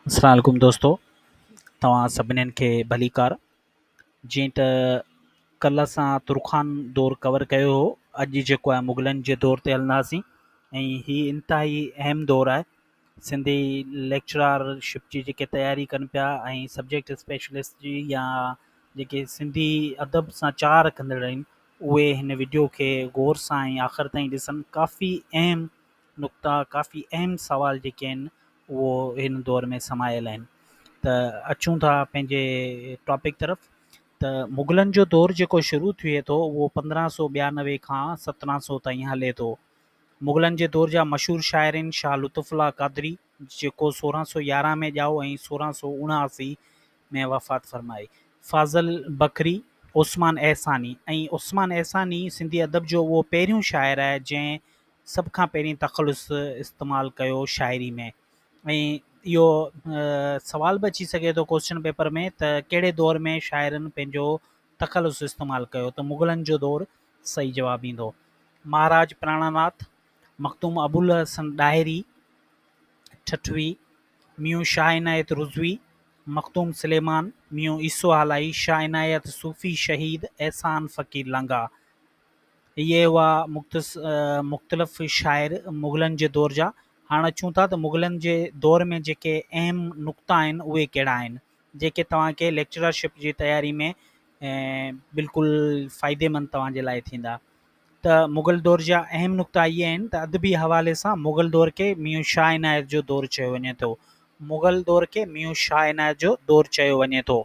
السلام عليڪم دوستو توهان سڀنين کي ڀليڪار جيئن ته ڪل اسان ترخان دور ڪور ڪيو هو اڄ جيڪو آهي مغلن جي دور تي هلنداسين ۽ هي انتهائي اهم دور آهي سنڌي ليڪچرار شپ جي جيڪي تياري ڪن پيا ۽ سبجيڪٽ اسپيشلسٽ جي يا جيڪي سنڌي ادب سان چاهه رکندڙ آهن اهي هن وڊيو کي غور سان ۽ آخر تائين ڏسن ڪافي اهم نقطا ڪافي اهم سوال جيڪي آهن اهو هن دور ۾ سمايل آهن ته اچون ٿا پنهنجي ٽاپڪ طرف ته مغلن جو دور جيڪو شروع ٿئي ٿو اهو پندرهن سو ٻيانوي کان سترهن سو تائين هلي ٿو مغلن جي دور جا مشهور شاعرين شاهه لطف الله قادري جيڪو سورهن سو يارهن ۾ ڄائو ۽ سورهن سو اڻاهاسي ۾ وفات فرمائي فاضل بکري عثمان احساني ۽ عثمان احساني سنڌي ادب جو اهو پهريون شاعر آهي جنهن سڀ کان پهرين تخلص استعمال ڪيو شاعري ۾ ۽ اهو سوال به اچي سگهي ٿو ڪوسچن پيپر ۾ ته ڪهڙي دور ۾ شاعرن پنهنجو تخلص استعمال ڪيو ته مغلن جو دور صحيح جواب ايندو مهاراج پراڻا ناٿ مخدوم ابوالحسن ڏاهري ٺٺوي ميون شاهه عنايت رضوي مخدوم سليمان ميون عيسو هالائي شاهه عنايت صوفي شهيد احسان فقير لانگاهه اهي هئا مختلف شاعر مغلن جي دور جا. هاڻ اچون ٿا ته مغلن جي دور ۾ جيڪي اهم نقطا آهن اهي ڪهڙا آهن جيڪي توهان کي ليڪچرشپ جي تياري ۾ بلڪل فائدي مند توهان جي لاء ٿيندا ته مغل دور جا اهم نقطا اهي آهن ته ادبي حوالي سان مغل دور کي ميون شاهه عنايت جو دور چيو وڃي ٿو مغل دور کي ميون شاهه عنايت جو دور چيو وڃي ٿو.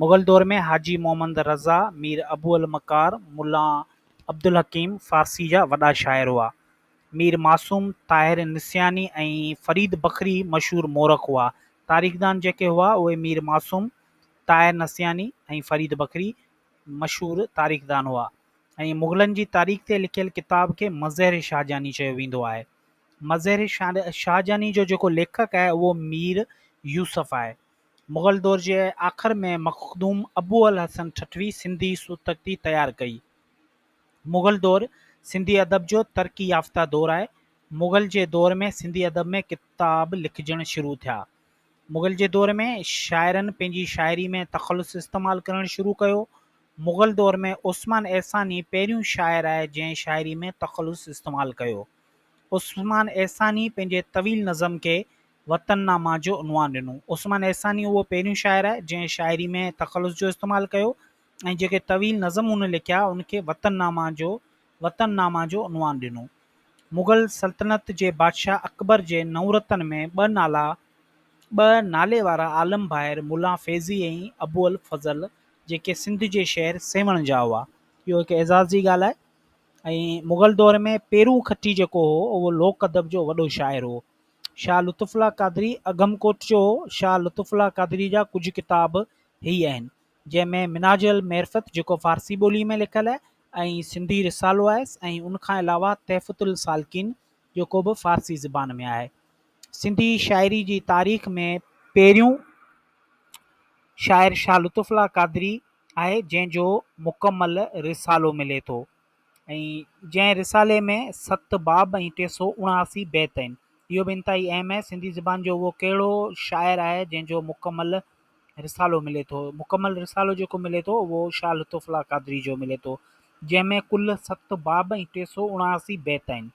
مغل دور ۾ حاجي محمد رضا، مير ابو المڪار، ملا عبدالحڪيم فارسي جا وڏا شاعر هئا. مير معصوم، طاهر نسياني ۽ فريد بکري مشهور مورخ هئا. تاريخدان جيڪي هئا اهي مير معصوم، طاهر نسياني ۽ فريد بکري مشهور تاريخدان هئا ۽ مغلن جي تاريخ تي لکيل ڪتاب کي مظهر شاهجهاني چيو ويندو آهي. مظهر شاهجهاني جو جيڪو ليکڪ آهي اهو مير يوسف آهي. مغل دور جي آخر ۾ مخدوم ابوالحسن ٺٽوي سنڌي سوتڪتي تيار ڪئي. مغل دور سنڌي ادب جو ترقي يافته دور آهي. مغل جي دور ۾ سنڌي ادب ۾ ڪتاب لکجڻ شروع ٿيا. مغل جي دور ۾ شاعرن پنهنجي شاعري ۾ تخلص استعمال ڪرڻ شروع ڪيو. مغل دور ۾ عثمان احساني پهريون شاعر آهي جنهن شاعري ۾ تخلص استعمال ڪيو. عثمان احساني پنهنجي طويل نظم کي وطن نامه جو عنوان ڏنو. عثمان احساني اهو پهريون شاعر آهي، جنهن شاعري ۾ تخلص جو استعمال ڪيو ۽ جيڪي طويل نظم هن لکيا، ان کي وطن نامه جو وطن نامه جو عنوان ڏنو. مغل سلطنت جي بادشاهه اڪبر جي نورتن ۾ ٻه نالا ٻه نالي وارا عالم ڀائر ملا فيضي ۽ ابوالفضل، جيڪي سنڌ جي شهر سيوهڻ جا هئا. اهو هڪ اعزاز جي ڳالهه آهي ۽ مغل دور ۾ پيرون کٽي جيڪو هو، اهو لوڪ ادب جو وڏو شاعر هو. شاهه لطف الله قادري، اگهمڪوٽ جو شاهه لطف الله قادري جا ڪجهه ڪتاب هي آهن، جنهن ۾ منهاج المعرفت جيڪو فارسي ٻوليء ۾ لکيل آهي ۽ سنڌي رسالو آهيس ۽ ان کان علاوه تحفة السالڪين جيڪو به فارسي زبان ۾ آهي. سنڌي شاعري جي تاريخ ۾ پهريون شاعر شاهه لطف الله قادري آهي، جنهن جو مڪمل رسالو ملي ٿو. ۽ جنهن رسالي ۾ ست باب ۽ ٽي سؤ اڻااسي بيت آهن. اهو به انتهائي اهم آهي، سنڌي زبان جو اهو ڪهڙو شاعر آهي، جنهن جو مڪمل رسالو ملي ٿو؟ مڪمل رسالو جيڪو ملي ٿو، اهو شاهه لطف الله قادري جو ملي ٿو، جنهن ۾ ڪل ست باب ۽ ٽي سؤ اڻااسي بيت آهن.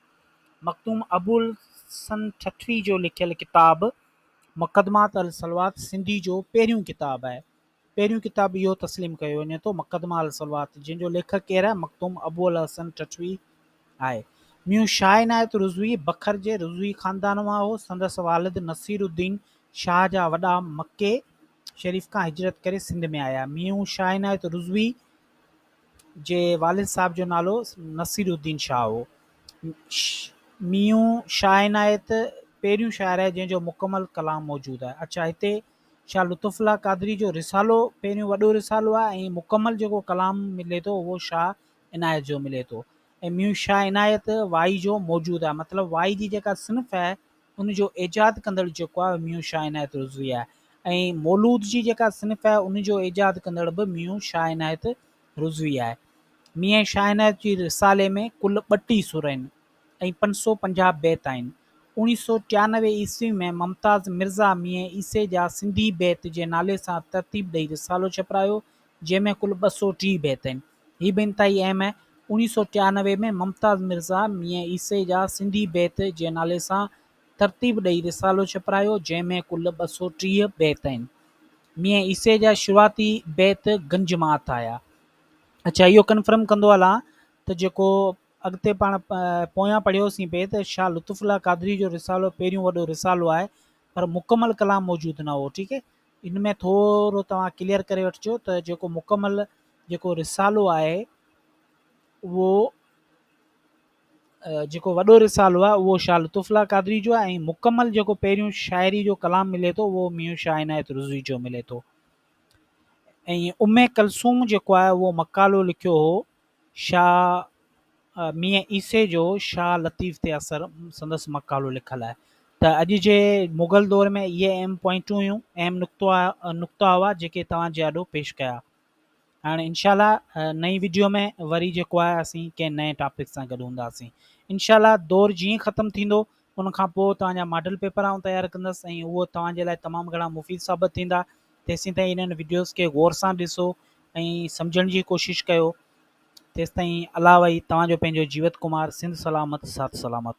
مخدوم ابوالحسن ٺٽوي جو لکيل ڪتاب مقدمات الصلوات سنڌي جو پهريون ڪتاب آهي، پهريون ڪتاب اهو تسليم ڪيو وڃي ٿو مقدمه الصلوات جنهن جو ليکڪ ڪير آهي مخدوم ابوالحسن ٺٽوي آهي. ميون شاهه عنايت رضوي بکر جي رضوي خاندان مان هو. سندس والد نصير الدين شاهه جا وڏا مڪي شريف کان هجرت ڪري سنڌ ۾ آيا. ميون شاهه عنايت رضوي جي والد صاحب جو نالو نصير الدين شاهه هو. ميون شاهه عنايت پهريون شاعر آهي جنهن جو مڪمل ڪلام موجود آهي. اڇا هتي شاھ لطف الله قادري جو رسالو پهريون وڏو رسالو آهي ۽ مڪمل جيڪو ڪلام ملي ٿو اهو شاھ عنايت جو ملي ٿو ۽ ميون شاھ عنايت وائي جو موجود آهي مطلب وائي جي جيڪا صنف آهي ان جو ايجاد ڪندڙ جيڪو آهي ميون شاھ عنايت رضوي آهي ۽ مولود جي جيڪا صنف آهي ان جو ايجاد ڪندڙ به ميون شاھ عنايت رضوي آهي ميون شاھ عنايت جي رسالي ۾ ڪل ٻٽي سر آهن ۽ پنج سؤ پنجاهه بيت آهن. اوڻيهه سؤ ٽيانوي عيسوي ۾ ممتاز مرزا ميين عيسي جا سنڌي بيت جي نالي سان ترتيب ڏئي رسالو ڇپرايو، جنهن ۾ ڪل ٻه سؤ ٽيهه بيت آهن. هي به انتهائي اهم آهي. اوڻيهه سؤ ٽيانوي ۾ ممتاز مرزا ميين عيسي جا سنڌي بيت جي نالي سان ترتيب ڏئي رسالو ڇپرايو، جنهن ۾ ڪل ٻه سؤ ٽيهه بيت آهن. ميين عيسي جا شروعاتي بيت گنج مان هٿ آيا. اڇا اهو ڪنفرم ڪندو هلان ته جيڪو اڳتي پاڻ پويان پڙهيو سين پئي ته شاهه لطف الله قادري جو رسالو پهريون وڏو رسالو آهي پر مڪمل ڪلام موجود نه هو ٺيڪ ان ۾ ٿورو توهان ڪليئر ڪري وٺجو ته جيڪو مڪمل جيڪو رسالو آهي اهو جيڪو وڏو رسالو آهي اهو شاهه لطف الله قادري جو آهي ۽ مڪمل جيڪو پهريون شاعري جو ڪلام ملي ٿو اهو ميون شاهه عنايت رضوي جو ملي ٿو ۽ ام ڪلثوم جيڪو آهي اهو مقالو لکيو هو شاهه ميين عيسي جو شاهه لطيف تي اثر سندس مقالو لکل آهي ته اڄ جي مغل دور ۾ اهي اهم پوائنٽون هيون اهم نقطو نقطا هئا جيڪي توهان جي آڏو پيش ڪيا هاڻي انشاء الله نئين ويڊيو ۾ وري جيڪو آهي اسين ڪنهن نئين ٽاپڪ سان گڏ هونداسين انشاء الله دور جيئن ختم ٿيندو ان کان پوء توهان جا ماڊل پيپر آئون تيار ڪندس ۽ اهو توهان جي لاء تمام گهڻا مفيد ثابت ٿيندا. تيسين تائين انهن وڊيوز کي غور سان ڏسو ۽ سمجهڻ جي ڪوشش ڪيو. تيستائين الاوهي توهان جو پنهنجو جيوت ڪمار سنڌ سلامت سات سلامت.